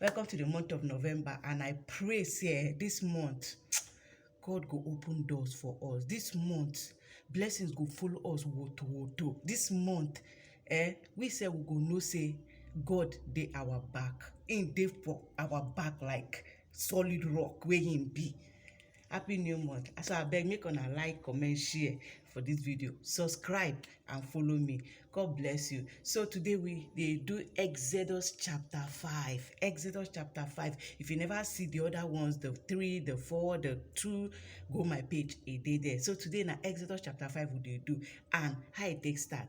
Welcome to the month of November and I pray say eh, this month God go open doors for us. This month blessings go follow us woto woto. This month eh, we say we go know say God dey our back. Him dey for our back like solid rock wey him be. happy new month as i beg make una like comment share for this video subscribe and follow me god bless you so today we dey do exodus chapter 5 exodus chapter 5 if you never see the other ones the three the four the two go my page e dey there so today na exodus chapter 5 we dey do and how e take start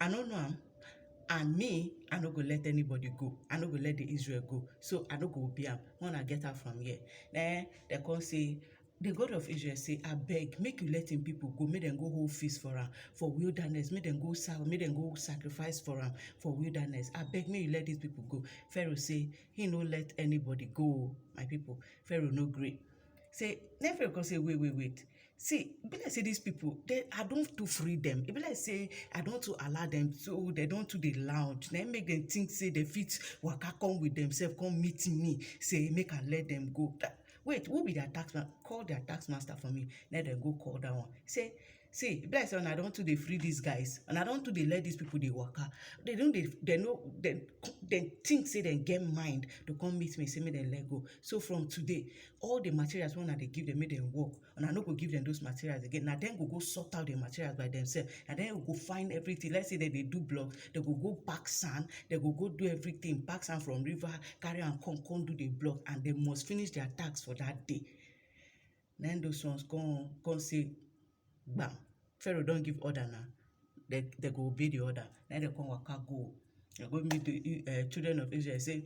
I no know am and me I no go let anybody go I no go let the Israel go so I no go obey am make una get out from here na eh dem come say the God of Israel say abeg make you let him people go make dem go hold feast for am for wilderness make dem go serve make dem go sacrifice for am for wilderness abeg make you let these people go Pharaoh say he no let anybody go o my people Pharaoh no gree say Nephiro come say wait wait wait see e be like say dis people dem I don too free dem e be like say I don too allow dem so dem don too dey loud na im make dem think say dem fit waka come with themselves come meet me say make I let dem go wait who be their tax man call their tax master for me let dem go call that one say see e be like say una don too dey free these guys una don too dey let these people dey waka they don dey they no they they think say they get mind to come meet me say make dem let go so from today all the materials wey una dey give them make dem work una no go give them those materials again na dem go go sort out the materials by themselves na dem go find everything let's say dem dey do block dem go go pack sand dem go go do everything pack sand from river carry am come come do the block and dem must finish their task for that day Na im those ones come come say gbam Pharaoh don give order na dem dem go obey the order na im dem come waka go dem go meet the um children of Israel say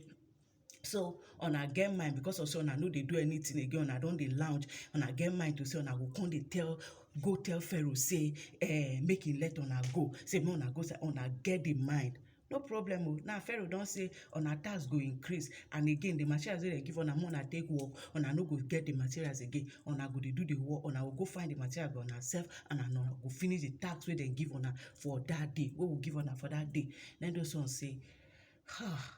so una get mind because of say una no dey do anything again una don dey lounge una get mind to say una go come dey tell go tell Pharaoh say um make he let una go say make una go una get the mind no problem o now pharaoh don say una tax go increase and again the materials wey dem give una make una take work una no go get the materials again una go dey do the work una go go find the material by una sef and una go finish the tax wey dem give una for that day wey we give una for that day na those ones say ha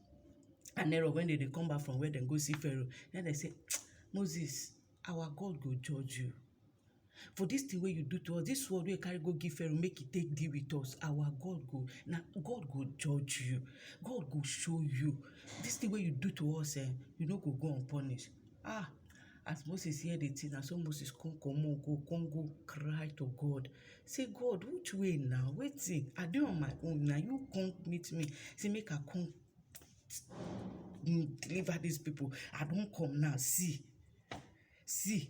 and Error when dem dey come back from where dem go see Pharaoh na im dem say Moses our God go judge you for this thing wey you do to us this word wey you carry go give Pharaoh make e take deal with us our God go na God go judge you God go show you this thing wey you do to us um you no go go unpunished um As Moses hear di tin, na so Moses come comot go come go cry to God sey, God which way na? Wetin? I dey on my own, na you come meet me sey make I come deliver dis pipu. I don come now, see, see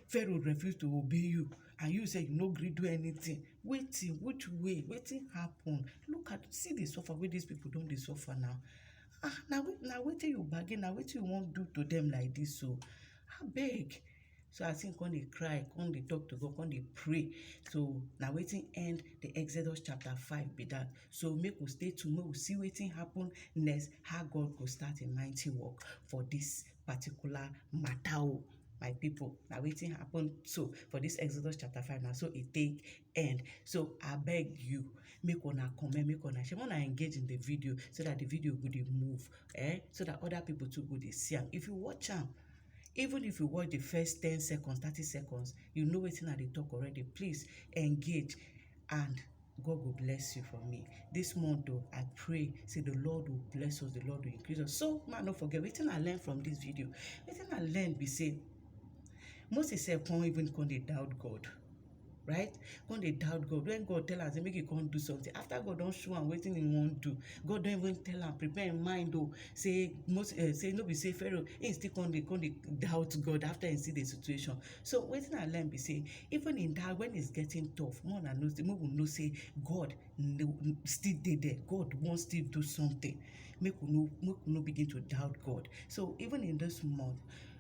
Pharaoh refuse to obey you and you sef you no gree do anytin. Wetin? Which way? Wetin happen? Look at, see di suffer wey dis pipu don dey suffer now. Ah, na na wetin you bargain, na wetin you wan do to dem like dis o. Abeg! So as im come dey cry, come dey talk to God, come dey pray. So na wetin end the Exodus chapter five be that. So make we stay tuned, make we see wetin happen next, how God go start im mighty work for dis particular matter o. My people, na wetin happen so for dis Exodus chapter five, na so e take end. So abeg you, make una comment make una share make una engage in the video so that the video go dey move eh so that other people too go dey see am if you watch am even if you watch the first ten seconds thirty seconds you know wetin i dey talk already please engage and God will bless you for me. This month, though, I pray, say the Lord will bless us, the Lord will increase us. So, man, don't forget, wetin I learn from this video, wetin I learn be say, Moses sef come even come dey doubt God. right come dey doubt god when god tell am say make he come do something after god don show am wetin he wan do god don even tell am prepare him mind o oh, say most uh, say no be say pharaoh he still come dey come dey doubt god after he see the situation so wetin i learn be say even in that when it's getting tough more na know say make we know say god still dey there god wan still do something make we no make we no begin to doubt god so even in this month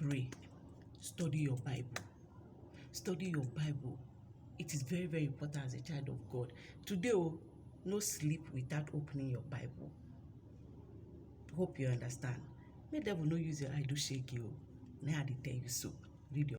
Pray. Study your Bible. Study your Bible. It is very, very important as a child of God. Today, oh, no sleep without opening your Bible. Hope you understand. Make devil no use your eye do shake you. Now I dey tell you so. Read your